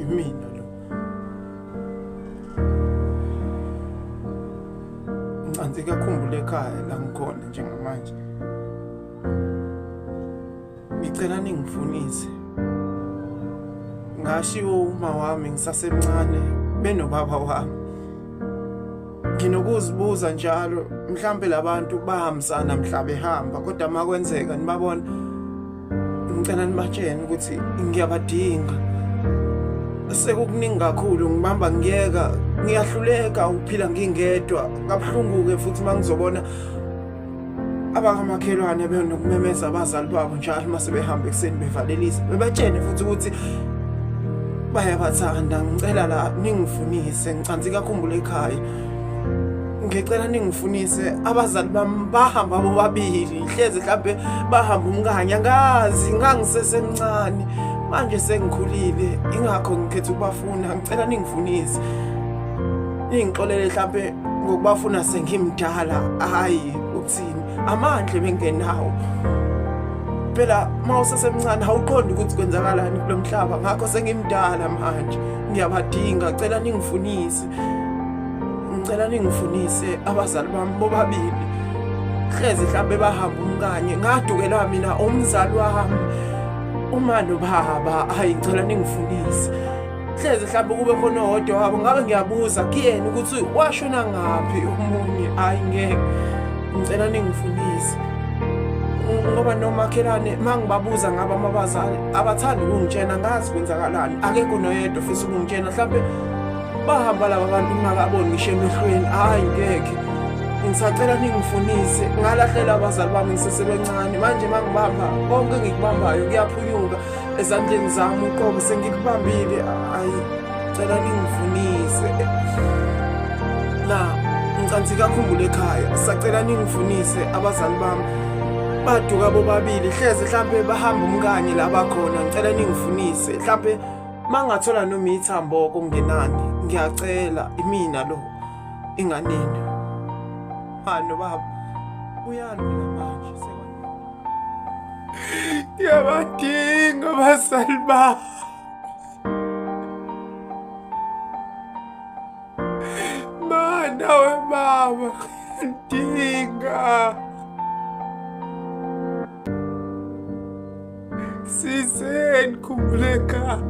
imina lo ncansi kakhumbule ekhaya la ngikhona njengamanje ngicela ningifunise ngashiwo uma wami ngisasemncane benobaba wami nginokuzibuza njalo mhlambe labantu bahambisana mhla behamba kodwa makwenzeka nibabona ngicela nibatshene ukuthi ngiyabadinga sekukuningi kakhulu ngibamba ngiyeka ngiyahluleka ukuphila ngingedwa kabuhlungu-ke futhi uma ngizobona abakamakhelwane benokumemeza abazali babo njalo uma sebehamba ekuseni bevalelisa bebatshene futhi ukuthi bayabathanda ngicela la ningifunise ngicansi kakhumbula ekhaya ngicela ningifunise abazali bami bahamba bobabili hleze mhlampe bahamba umkanye angazi ngangisesemncane manje sengikhulile ingakho ngikhetha ukubafuna ngicela ningifunise ningixolele mhlampe ngokubafuna sengimdala hayi ukuthini amandle bengenawo phela uma usesemncane awuqondi ukuthi kwenzakalani kulo mhlaba ngakho sengimdala manje ngiyabadinga cela ningifunise ngicela ningifunise abazali bami bobabili hlezi mhlawumbe bahamba umkanye ngadukelwa mina umzali wami uma nobaba hayi ngicela ningifunise hlezi mhlawumbe kube khona owodwa wabo ngabe ngiyabuza kuyena ukuthi washona ngaphi omunye hhayi ngeke ngicela ningifunise ngoba nomakhelwane uma ngibabuza ngabo amabazali abathandi ukungitshena ngazi kwenzakalani akekho noyedwa ofisa ukungitshena mhlawumbe bahamba laba bantu ngingakaboni ngisho emehlweni hhayi ngekhe ngisacela ningifunise ngalahlela abazali bami ngisesebencane manje uma ngibamba konke engikubambayo kuyaphunyuka ezandleni zami uqobo sengikubambile hhayi cela ningifunise na ngicansi kakhumbula ekhaya sacela ningifunise abazali bami baduka bobabili hleze mhlampe bahamba umkanye la bakhona ngicela ningifunise mhlampe mangathola noma ithambo okungenani ngiyacela imina lo inganeni hano baba uyani mina manje ngiyabadinga abazali bami mana webaba ngiyadinga Sizeni khumbuleka